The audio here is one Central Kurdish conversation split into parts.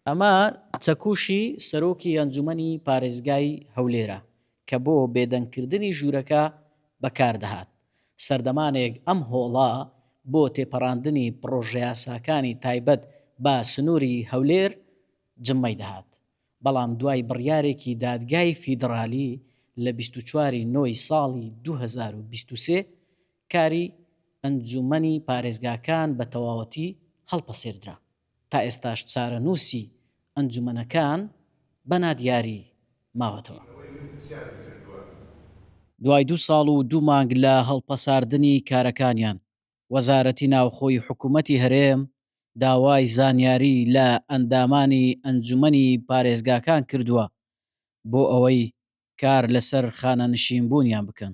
ئەمە چەکوشی سەرۆکی ئەنجومەنی پارێزگای هەولێرە کە بۆ بێدەنگکردنی ژوورەکە بەکاردەهات، سەردەمانێک ئەم هۆڵە بۆ تێپەڕاندنی پڕۆژەیاساکانی تایبەت بە سنووری هەولێر جممەی دەهات، بەڵام دوای بڕیارێکی دادگای فیدڕالی لە بیست و چوار ی نۆ ی ساڵی دوو هەزار و بیست و سێ کاری ئەنجوومەنی پارێزگاکان بە تەواوەتی هەڵپەسێردرا، تا ئێستاش چارەنووسی ئەنجوومەنەکان بە نادیاری ماوەتەوە. دوای دوو ساڵ و دوو مانگ لە هەڵپەساردنی کارەکانیان، وەزارەتی ناوخۆی حکوومەتی هەرێم داوای زانیاری لە ئەندامانی ئەنجوومەنی پارێزگاکان کردووە بۆ ئەوەی کار لەسەر خانەنشینبوونیان بکەن.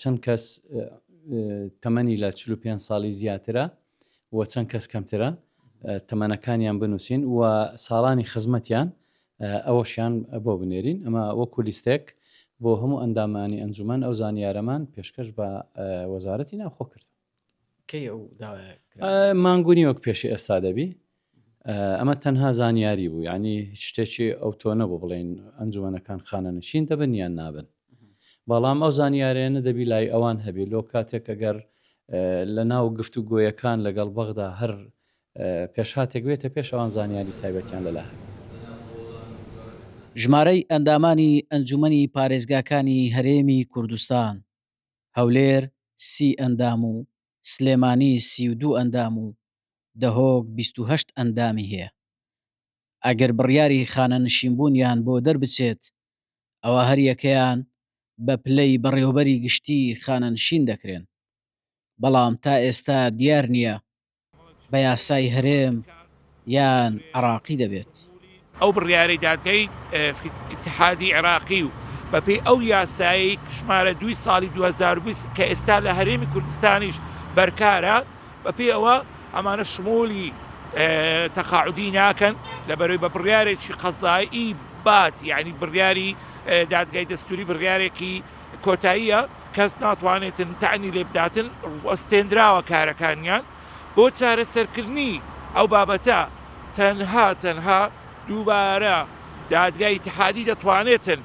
چەند کەس تەمەنی لە چلو پێ ساڵی زیاترە و چەند کەس کەمترە تەمەنەکانیان بنووسین و ساڵانی خزمەتیان ئەوەشیان بۆ بنێرین ئەمە وەکو لیستێک بۆ هەموو ئەندامانی ئەنجومان ئەو زانیارەمان پێشکەش بە وەزارەتی ناوخۆ کردن کەی ئەو مانگونی وەک پێشی ئێستا دەبی ئەمە تەنها زانیاری بوو ینی هیچ شتێکی ئەو تۆ نەبوو بڵێن ئەنجومەنەکان خانەنشین دەبن یان نابن بەڵام ئەو زانیارێنە دەبی لای ئەوان هەبێ لۆ کاتێک ئەگەر لە ناو گفت و گۆیەکان لەگەڵ بەغدا هەر پێشهاتێک بێتە پێش ئەوان زانیاری تایبەتیان لەلا هەبێ ژمارەی ئەندامانی ئەنجومەنی پارێزگاکانی هەرێمی کوردستان هەولێر سی ئەندام و سلێمانی سی و دوو ئەندام و دهۆک بیست و هەشت ئەندامی هەیە ئەگەر بڕیاری خانەنشینبوونیان بۆ دەربچێت ئەوا هەریەکەیان بە پلەی بەڕێوەبەری گشتی خانەنشین دەکرێن بەڵام تا ئێستا دیار نییە بە یاسای هەرێم یان عێراقی دەبێت. ئەو بڕیارەی دادگای ئیتحادی عێراقی و بەپێی ئەو یاسایەی ژمارە دووی ساڵی دوو هەزار و بیست کە ئێستا لە هەرێمی کوردستانیش بەرکارە، بەپێی ئەوە ئەمانە شمولی تەقاعودی ناکەن لە بەرەی بە بڕیارێکی قەزایی بات یانی بڕیاری دادگای دەستوری بڕیارێکی کۆتاییە کەس ناتوانێتن تانی لێبداتن ڕوەستێندراوە کارەکانیان بۆ چارەسەرکردنی ئەو بابەتە تەنها تەنها دووبارە دادگای ئیتحادی دەتوانێتن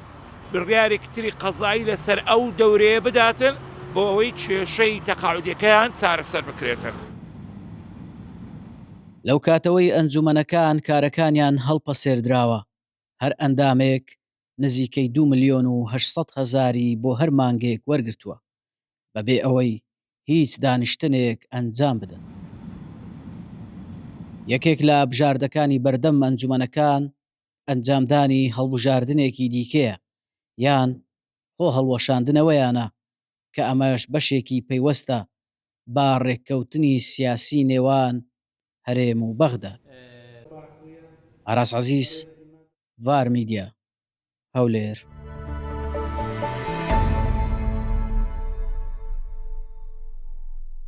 بڕیارێکی تری قەزایی لەسەر ئەو دەورەیە بداتن بۆ ئەوەی کێشەی تەقاعودیەکەیان چارەسەر بکرێتن. لەو کاتەوەی ئەنجومەنەکان کارەکانیان هەڵپەسێردراوە هەر ئەندامێک نزیکەی دوو ملیۆن و هەشت سەد هەزاری بۆ هەر مانگێک وەرگرتووە، بەبێ ئەوەی هیچ دانیشتنێک ئەنجام بدەن. یەکێک لە بژاردەکانی بەردەم ئەنجومەنەکان ئەنجامدانی هەڵبژاردنێکی دیکەیە یان خۆ هەڵوەشاندنەوەیانە کە ئەمەش بەشێکی پەیوەستە بە ڕێککەوتنی سیاسی نێوان هەرێم و بەغداد. ئاراس عەزیز، ڤار میدیا، هەولێر.